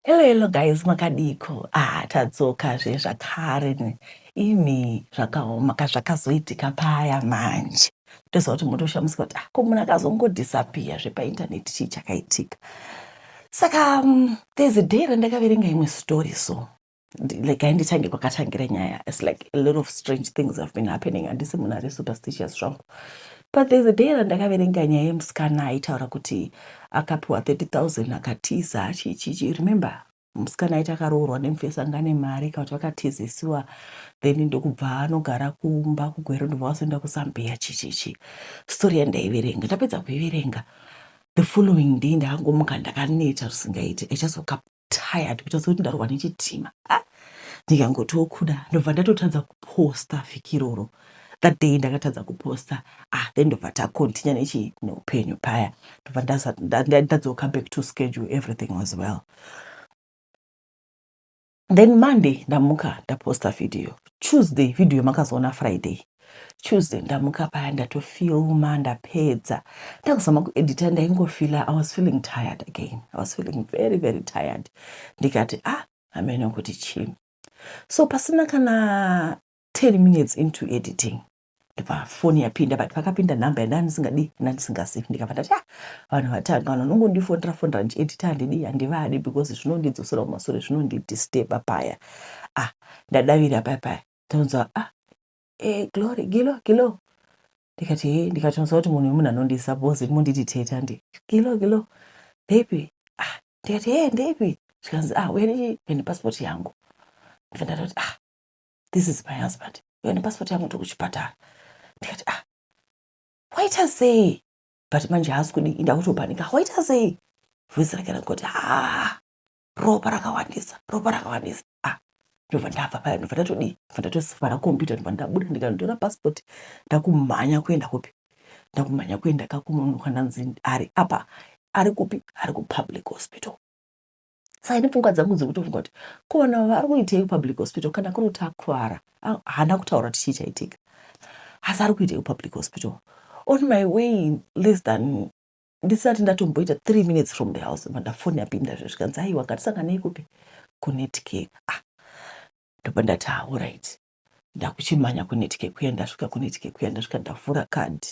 Hello, hello guys, makadiiko? Ah, tadzoka zve zvakare ne imi zvakaoma ka zvakazoitika paya manje. Toziva kuti motoshamisika kuti ah, ko munhu akazongodisappear zve painternet chii chakaitika. Saka um, there's a day randakaverenga imwe story so regai nditange kwakatangira nyaya its like a lot of strange things have been happening handisi munhu ari superstitious zvangu but there's a day randakaverenga nyaya yemusikana aitaura kuti akapiwa 30000 akatiza chichichi remember musikana aiti akaroorwa nemufesi anga ane mari kana kuti vakatizisiwa then ndokubva anogara kumba kugwero ndobva vasoenda kuzambia chichichi story yandaiverenga ndapedza kuiverenga the following day ndakangomuka ndakaneta zvisingaiti i just woke up tired kuita sekuti ndarwa nechitima ah, ndikangotiwo kuda ndobva ndatotadza kuposta vhiki iroro that day ndakatadza kuposta ah then ndobva tacontinue nechi neupenyu paya ndobva ndadzoka back to schedule everything was well then monday ndamuka ndaposta video tuesday video makazoona friday Tuesday ndamuka paya ndatofilma ndapedza ndakuzama kuedita ndaingofila i was feeling tired again i was feeling very very tired ndikati ah ameno kuti chii so pasina kana 10 minutes into editing ndibva foni yapinda but pakapinda nhamba yandava ndisingadi ndandisingazivi ndikabva ndati ah vanhu vatanga vanhu vanongondifonera fonera ndichiedita handidi handivadi because zvinondidzosera kumasure zvinondidisteba paya ah ndadavira paya paya tonzwa ah eh, glory gilo gilo ndikati he ndikatonzwa kuti munhu wemunhu anondisa bozi monditi teta ndi gilo gilo ndepi ah ndikati he ndepi zvikanzi ah uya nepasipoti yangu ndive ndati kuti ah this is my husband uya nepasipoti yangu tiri kuchipatara ndikati ah waita sei but manje haasi kudi ndakutopanika waita sei voice rake rakoti ah ropa rakawandisa ropa rakawandisa ah ndobva ndabva paya ndobva ndatodii ndobva ndatosifara kompyuta ndobva ndabuda ndikanditora pasipoti ndakumhanya kuenda kupi ndakumhanya kuenda kakumunhu kwandanzi ari apa ari kupi ari kupublic hospital saka ine pfungwa dzangu dzekutofunga kuti ko vanhu ava vari kuitei kupublic hospital kana kuri kuti akuvara haana kutaura kuti chii chaitika asi ari kuitei kupublic hospital on my way less than ndisati ndatomboita three minutes from the house manda foni yapinda zve zvikanzi aiwa ngatisanganei kupi kunetcake ah ndobva ndati haorit ah, ndakuchimhanya kunetcake kuya ndasvika kunetcake kuya ndasvika ndavhura card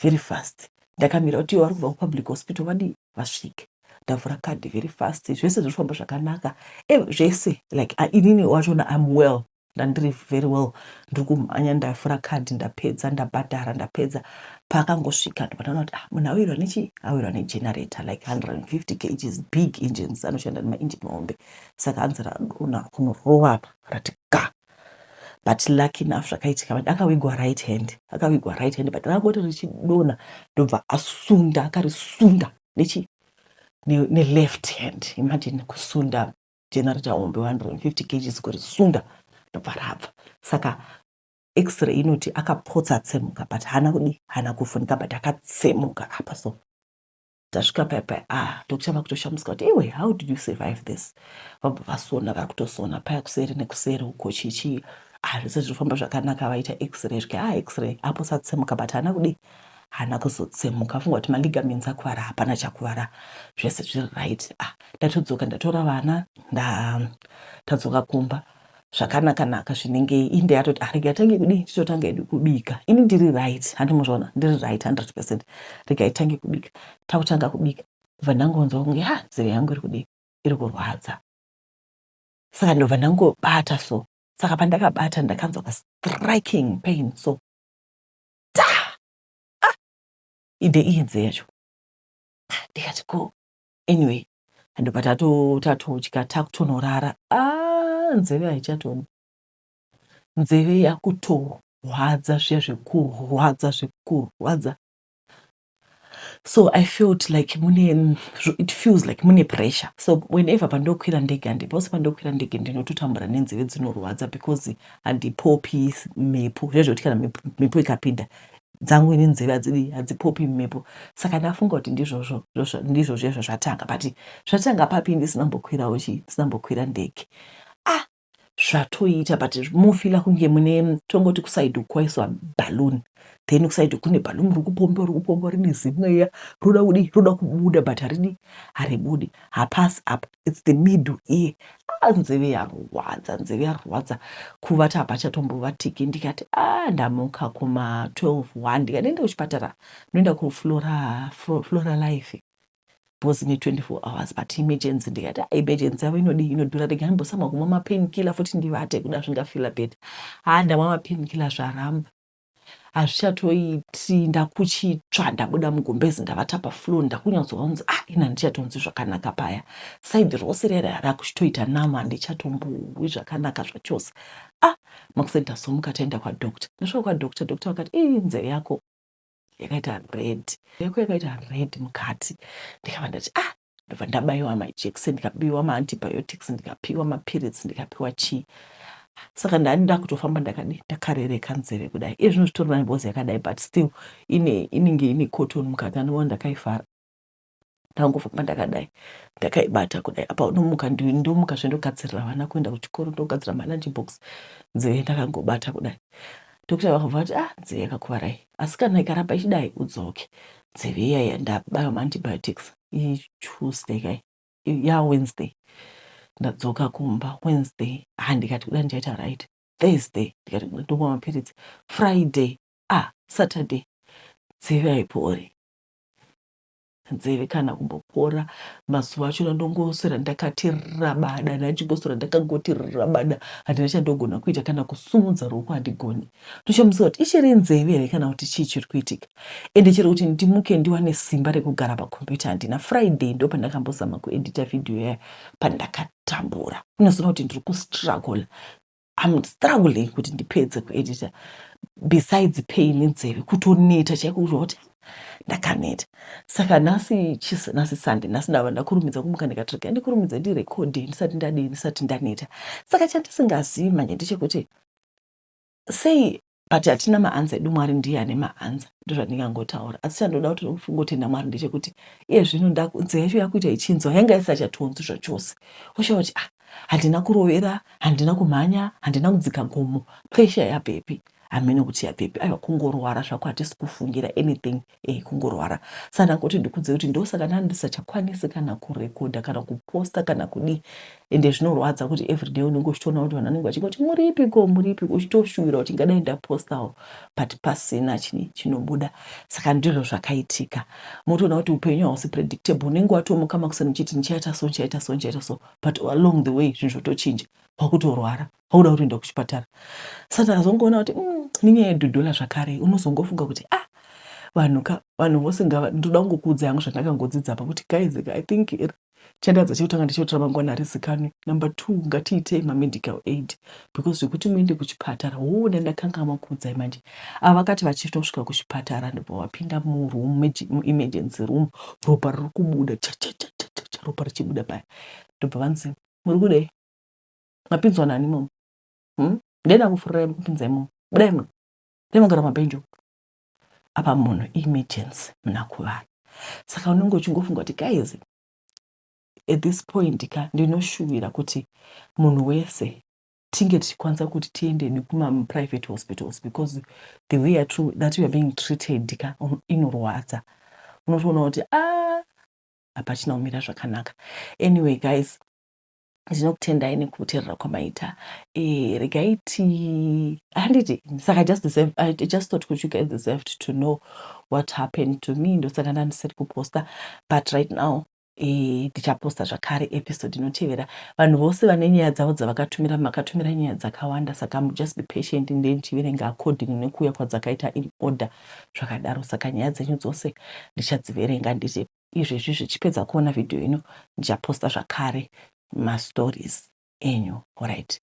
very fast ndakamira kuti ivo vari kubva kupublic hospital vadii vasvike ndavhura card very fast zvese zviri kufamba zvakanaka eh, zvese like ah, inini wachona im well Ndandiri very well ndiri kumhanya ndavhura card ndapedza ndabhadhara ndapedza paakangosvika ndobva ndaona kuti ah munhu awirwa nechii awirwa negenerator like 150 kgs big engines anoshanda nemaengine mahombe saka hanzi radona kunorova apa rati ka but lucky enough zvakaitika but akawigwa right hand akawigwa right hand but rakoti richidona ndobva asunda akarisunda nechi neleft hand imagine kusunda generator hombe 150 kgs kurisunda ndobva rabva saka x-ray inoti akapotsa atsemuka but haana kudi haana kuvhunika but akatsemuka apa so tasvika paya paya ah doctor vakutoshamudzika kuti iwe how did you survive this vabva vasona vari kutosona paya kuseri nekuseri uko chichii ah zvese zvinofamba zvakanaka vaita x-ray zvika ah x-ray apo satsemuka but haana kudi haana kuzotsemuka afunga kuti maligaments akuvara hapana chakuvara zvese zviri right ah ndatodzoka ndatora vana ndatadzoka kumba zvakanaka naka zvinenge inde yatoti ah rega tange kudii titotanga edu kubika ini ndiri right handi muzvaona ndiri right 100 percent rega itange kubika takutanga kubika kubva ndangonzwa kunge ha nzeve yangu iri kudii iri kurwadza saka ndobva ndangobata so saka pandakabata ndakanzwa ka striking pain so ta ah ide iyenze yacho ah, ndikati ko anyway ndobva tatotya takutonorara a ah, nzeve haichatoni nzeve yakutorwadza zviya zvekurwadza zvekurwadza so i felt like mune it feels like mune pressure so whenever pandokwira ndege and pose pandokwira ndege ndinototambura nenzeve dzinorwadza because handipopi mhepo zvezvekuti kana mhepo ikapinda dzangu ini nzeve hadzidi hadzipopi mhepo saka ndafunga kuti ndizvozvo ndizvozvo izvo zvatanga but zvatanga papi ndisina mbokwirawo chii ndisina mbokwira ndege ah zvatoita but mofila kunge mune tongoti kusaidi kwaiswa balloon then kusaidi kune balloon riri kupomba riri kupomba rine zimweya roda kudi roda kubuda but haridi haribudi hapasi apa its the middle ear a ah, nzeve yarwadza nzeve yarwadza kuvata hapachatombovhatiki ndikati a ah, ndamuka kuma 12 1 ndikati enda kuchipatara noenda kuflora flora life bhozi ne 24 hours but emergency ndikati ah, emergency yavo inodii inodhura rega ndimbosama kumwa mapain killer futi ndivate kuda zvingafila beta haa ndamwa mapain killer zvaramba hazvichatoiti ndakuchitsva ndabuda mugumbezi ndavata pafloor ndakunyatsoa kunzi ah ini handichatonzwi zvakanaka paya saidi rose rere rakuchitoita nama handichatombowi zvakanaka zvachose ah makuseni tazomuka taenda kwadoctor ndasvika kwadoctor doctor vakati ii nzeve yako yakaita red yako yakaita red mukati ndikava ndati ah ndobva ndabaiwa majekiseni ndikapiwa maantibiotics ndikapiwa mapiritsi ndikapiwa chii saka ndani ndakutofamba ndakadi ndakarereka nzeve kudai iye zvino zvitori nangozi yakadai but still ine inenge ine cotton mukati anova ndakaifara ndakangofamba ndakadai ndakaibata kudai apa unomuka ndomuka zve ndogadzirira vana kuenda kuchikoro ndogadzira malunch box nzeve ndakangobata kudai dokta vakabva vati ah nzeve yakakuvarai asi kana ikaramba ichidai udzoke nzeve iyaya ndabaya maantibiotics ituesday kai ya wednesday ndadzoka kumba wednesday ha ndikati kuda ndichaita right thursday ndikati kuda ndomwa mapiritsi friday ah saturday nzeve haipori nzeve kana kumbopora mazuva achona ndongoswera ndakati rabada handina chingoswera ndakangoti rabada handina chandogona kuita kana kusumudza ruoko handigoni ndochamusa kuti ichiri nzeve here kana kuti chii chiri kuitika ende chero kuti ndimuke ndiwane simba rekugara pakombiyuta handina friday ndo pandakambozama kuedita vhidhiyo yaya pandakatambura ndinozoona kuti ndiri kustruggle I'm struggling kuti ndipedze kuedita besides pain nzeve kutoneta chaiko kuzva kuti ndakaneta saka nhasi chis nhasi sunday nhasi ndava ndakurumidza kumuka ndikatrega ndikurumidza ndirekodhe ndisati ndadii ndisati ndaneta saka chandisingazivi manje ndechekuti sei but hatina maanza edu mwari ndiye ane maanza ndozvandingangotaura asi chandoda kuti kungotenda mwari ndechekuti iye zvino nzeve yacho yakuita ichinzwa yanga isachatonzwi zvachose woshava kuti ah handina kurovera handina kumhanya handina kudzika gomo presha yabvepi hameno kuti yabvepi aiwa kungorwara zvako hatisi kufungira anything e, kungorwara sa ndangoti ndikudze kuti ndosaka ndani ndisachakwanisi kana kurekodha kana kuposta kana kudii ende zvinorwadza kuti everyday unenge uchitoona kuti vanhu vanenge vachingoti muripiko muripiko uchitoshuwira kuti ngadai ndapostawo but pasina chini chinobuda saka ndizvo zvakaitika motoona kuti upenyu hausi predictable unenge watomuka makuseni uchiti ndichaita so ndichaita so ndichaita so but along the way zvinhu zvotochinja kwakutorwara auda kutoenda kuchipatara satan azongoona kuti mm, nenyaya yedhodhola zvakare unozongofunga kuti ah vanhu ka vanhu vose ngava ndoda kungokuudza yangu zvandakangodzidza pa kuti guys i think chandadza chekutanga ndechekuti ramangwana harizikanwi number two ngatiitei mamedical aid because zvekuti muende kuchipatara hoo ndandakanga makuudzai manje ava vakati vachitosvika kuchipatara ndobva vapinda muroom muemergency room ropa riri kubuda chachachachacha ropa richibuda paya ndobva vanzi muri kudei mapinzwa nani imomo hmm? ndenda kufurira kupinza imomo budai muno dai magara mabhenji uko apa munhu emergency muna kuvana saka unenge uchingofunga kuti guys at this point ka ndinoshuvira kuti munhu wese tinge tichikwanisa kuti tiende nekumaprivate hospitals because the way at that youare being treated ka um, inorwadza unotoona kuti a ah, hapachina kumira zvakanaka anyway guys ndinokutendai nekuterera kwamaita eh, regai ti handiti saka i just deserve i just thought kuti you guys deserved to know what happened to me ndosaka ndandisiri kuposta but right now eh, ndichaposta zvakare episode inotevera vanhu vose vane nyaya dzavo dzavakatumira makatumira nyaya dzakawanda saka just be patient nde ndichiverenga according nekuuya kwadzakaita in order zvakadaro saka nyaya dzenyu dzose ndichadziverenga ndiripo izvezvi zvichipedza kuona video ino ndichaposta zvakare mastories enyu orit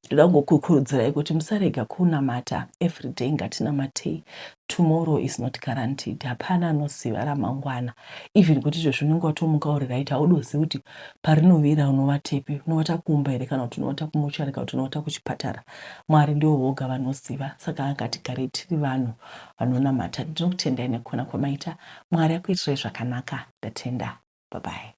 ndoda kungokukurudzirai kuti musarega kunamata everyday ngatinamatei tomorrow is not guaranteed hapana anoziva ramangwana even kuti izvezvi unenge watomuka uri right haudozivi kuti parinovira unovatepi unovata kumba here kana kuti unovata kumuchari kana kuti unovata kuchipatara mwari ndivo voga vanoziva saka ngatigarei tiri vanhu uh, vanonamata ndinokutendai nekukona kwamaita mwari akuitirai zvakanaka ndatenda babai.